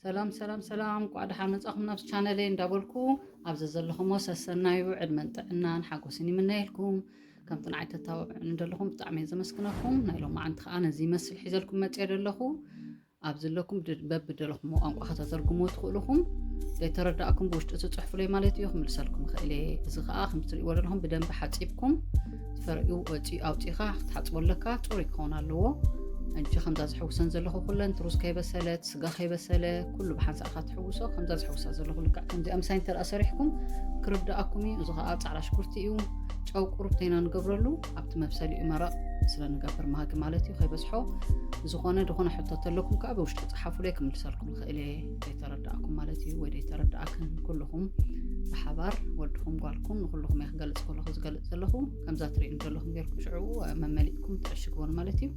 ሰላም ሰላም ሰላም ቋዕ ደሓን መጻኹም ናብዚ ቻነለይ እንዳበልኩ ኣብዚ ዘለኹሞ ሰሰናዩ ዕድመን ጥዕናን ሓጎስን ይምነየልኩም ከምቲ ንዓይ ተታባብዑኒ ዘለኹም ብጣዕሚ እየ ዘመስግነኩም ናይ ሎማዓንቲ ከዓ ነዚ ይመስል ሒዘልኩም መፅየ ዘለኹ ኣብ ዘለኩም በብደለኹምዎ ቋንቋ ከተተርጉሞ ትኽእልኹም ዘይተረዳእኩም ብውሽጢ ትፅሕፉለይ ማለት እዩ ክምልሰልኩም ይኽእል እየ እዚ ከዓ ከምትሪእዎ ዘለኹም ብደንቢ ሓፂብኩም ፈርኡ ወፂ ኣውፂኻ ክትሓፅቦ ኣለካ ፅሩይ ክኸውን ኣለዎ እጂ ከምዛ ዝሕውሰን ዘለኹ ኩለን ትሩስ ከይበሰለት ስጋ ከይበሰለ ኩሉ ብሓንሳእካ ትሕውሶ ከምዛ ዝሕውሳ ዘለኹ ልክዕ ከምዚኣ ምሳይ እንተደኣ ሰሪሕኩም ክርዳኣኩም እዩ እዚ ከዓ ፃዕዳ ሽጉርቲ እዩ ጨው ቁርብተይና ንገብረሉ ኣብቲ መብሰሊኡ መረቕ ስለ ንገብር ማጊ ማለት እዩ ከይበዝሖ ዝኾነ ዝኾነ ሕቶ ተለኩም ከዓ ብውሽጢ ፀሓፉለይ ክምልሰልኩም ይኽእል እየ ዘይተረዳእኩም ማለት እዩ ወይ ዘይተረዳእክን ኩልኹም ብሓባር ወድኹም ጓልኩም ንኩልኹም እየ ክገልፅ ከለኹ ዝገልፅ ዘለኹ ከምዛ ትሪእዩ ዘለኹም ጌርኩም ሽዑ መመሊእኩም ትዕሽግዎን ማለት እዩ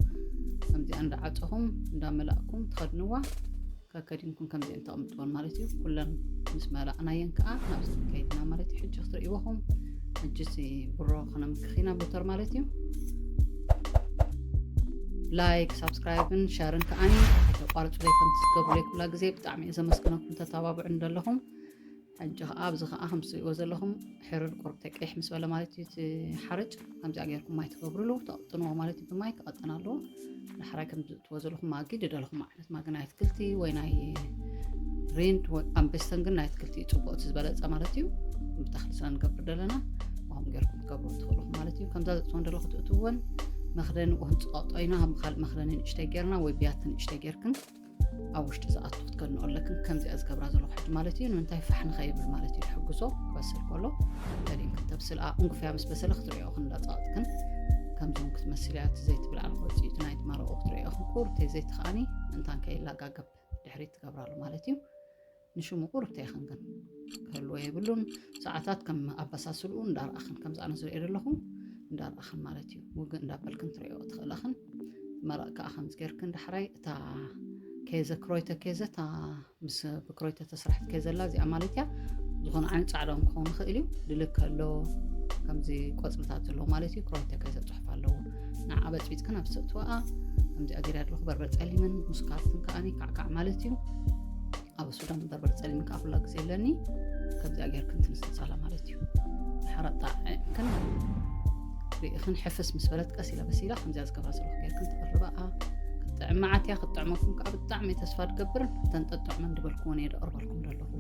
ከምዚኣ እንዳዓፀኹም እንዳመላእኩም ትኸድንዋ ከከዲንኩም ከምዚኤን ተቕምጥወን ማለት እዩ ኩለን ምስ መላእናየን ከዓ ናብዚ ከይድና ማለት እዩ ሕጂ ክትርእይዎኹም ሕጂሲ ብሮ ክነምክኺና ሞተር ማለት እዩ ላይክ ሳብስክራይብን ሸርን ከዓ ተቋርፁ ዘይከም ትስገቡ ዘይኩላ ግዜ ብጣዕሚ እየ ዘመስግነኩም ተተባብዑ እንደለኹም ሕጂ ከኣ ኣብዚ ከኣ ከምቲ ትርእይዎ ዘለኹም ሕርር ቆርብተይ ቀይሕ ምስ በለ ማለት እዩ እቲ ሓርጭ ከምዚኣ ጌርኩም ማይ ትገብርሉ ተቕጥንዎ ማለት እዩ ብማይ ክቐጥን ኣለዎ ዳሕራይ ከምዚ እትዎ ዘለኹም ማጊ ድደለኹም ዓይነት ማጊ ናይ ኣትክልቲ ወይ ናይ ሬንድ ወይ ኣንበስተን ግን ናይ ኣትክልቲ እዩ ፅቡቅ እቲ ዝበለፀ ማለት እዩ ብተኽሊ ስለ ንገብር ደለና ከምኡ ጌርኩም ትገብሩ ትኽእልኹ ማለት እዩ ከምዛ ዘፅወን ደለኹ ትእትወን መኽደኒ ወህንፅቐጦ ኢና ካብ ካልእ መኽደኒ ንእሽተይ ጌርና ወይ ብያቲ ንእሽተይ ጌርክን ኣብ ውሽጢ ዝኣቱ ክትገንኦ ኣለክን ከምዚኣ ዝገብራ ዘለኹ ሕጂ ማለት እዩ ንምንታይ ፋሕ ንኸይብል ማለት እዩ ሕግዞ ክበስል ከሎ ገሊን ክትተብስል እንጉፍያ ምስ በሰለ ክትሪኦ ክንዳፃቕጥክን ከምዞም ክትመስል እያ እቲ ዘይትብል ዓልኮ ውፅኢቱ ናይ ትማረቑ ክትሪኦ ክንቁር ተይ ዘይትኸኣኒ ምእንታን ከይላጋገብ ድሕሪት ትገብራሉ ማለት እዩ ንሽሙ ቁርብተይ ኢኽን ግን ክህልዎ የብሉን ሰዓታት ከም ኣበሳስልኡ እንዳርኣኽን ከምዚ ኣነ ዝሪኦ ዘለኹ እንዳርኣኽን ማለት እዩ ውግእ እንዳበልክን ትሪኦ ትኽእላኽን መረቕ ከዓ ከምዚ ጌርክን ዳሕራይ እታ ኬዘ ክሮይተ ኬዘ እታ ምስ ብክሮይተ ተስራሕት ኬዘላ እዚኣ ማለት እያ ዝኾነ ዓይነት ፃዕዳ ክኸውን ይኽእል እዩ ድልክ ኣሎ ከምዚ ቆፅልታት ዘለዎ ማለት እዩ ክሮይተ ኬዘ ፅሑፍ ኣለዎ ንዓ በፅቢፅካ ናብ ሰትዋኣ ከምዚኣ ገይረ ኣለኹ በርበር ፀሊምን ምስ ካርትን ከዓ ካዕካዕ ማለት እዩ ኣብ ሱዳን በርበር ፀሊም ከዓ ኩላ ግዜ ኣለኒ ከምዚኣ ገይር ክንትንስፃላ ማለት እዩ ሓራጣ ዕምክን ርእኽን ሕፍስ ምስ በለት ቀስ ኢላ በሲላ ከምዚያ ዝገብራ ዘለኹ ገይርክን ትቕርበኣ ክትጥዕም መዓት እያ ክትጥዕመኩም ከዓ ብጣዕሚ ተስፋ ትገብርን ተንጠጥዕመ እንድበልኩዎ ነየ ደቕርበልኩም ደለኹ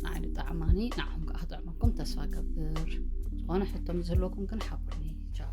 ንዓይ ዝጠዕማኒ ንዓኹም ከዓ ክጥዕመኩም ተስፋ ገብር ዝኾነ ሕቶ ምስ ዝህልወኩም ግን ሓብሩኒ ቻው